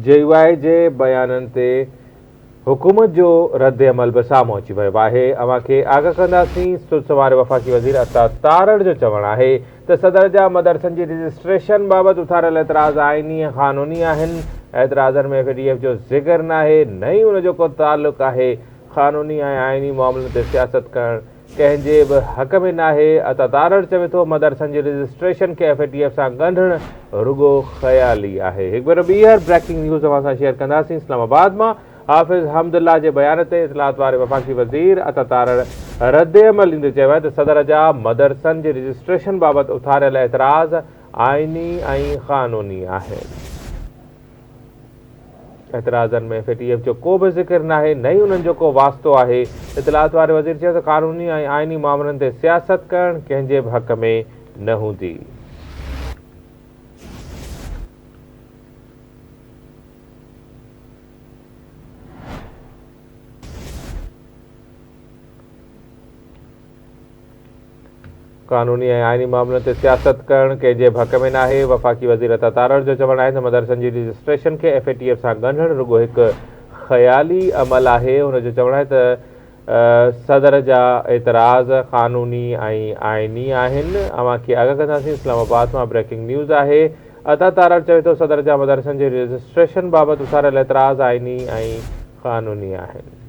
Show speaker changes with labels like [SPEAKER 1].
[SPEAKER 1] جي U I جي بيانن تي حڪومت جو ردعمل به سامهون اچي ويو آهي، اوهان کي آگاهه ڪنداسين، سرس واري وفاقي وزير عطاء تارڙ جو چوڻ آهي ته صدر جا مدرسن جي رجسٽريشن بابت اٿاريل اعتراض آئيني ۽ قانوني آهن، اعتراضن ۾ ايف اي ڊي ايف جو ذڪر ناهي نه ئي ان جو ڪو تعلق آهي، قانوني ۽ آئيني معاملن تي سياست ڪرڻ ڪنهن جي به حق ۾ ناهي، عطا تارڙ چوي ٿو مدرسن جي رجسٽريشن کي ايف اي ٽي ايف سان ڳنڍڻ رڳو خيالي آهي. هڪ ڀيرو ٻيهر بريڪنگ نيوز اوهان سان شيئر ڪنداسين اسلام آباد مان حافظ حمدالله جي بيان تي اطلاعات واري وفاقي وزير عطا تارڙ ردعمل ڏيندي چيو آهي ته صدر جا مدرسن جي رجسٽريشن بابت اٿاريل اعتراض آئيني ۽ قانوني آهن. اعتراضن ۾ ايف اي ٽي ايف جو ڪو به ذڪر ناهي نه ئي انهن جو ڪو واسطو آهي، اطلاعات واري وزير چيو ته قانوني ۽ آئيني مامرن تي سياست ڪرڻ ڪنهن جي به حق ۾ نه هوندي. قانوني ۽ آئيني معاملن تي سياست ڪرڻ ڪنهن جي ڀڪ ۾ ناهي، وفاقي وزير عطا تارڙ جو چوڻ آهي ته مدرسن جي رجسٽريشن کي ايف اي ٽي ايف سان ڳنڍڻ رڳو هڪ خيالي عمل آهي، هن جو چوڻ آهي ته صدر جا اعتراض قانوني ۽ آئيني آهن، اوهان کي آگاهه ڪنداسين، اسلام آباد مان بريڪنگ نيوز آهي، عطا تارڙ چوي ٿو صدر جا مدرسن جي رجسٽريشن بابت اٿاريل اعتراض آئيني ۽ قانوني آهن.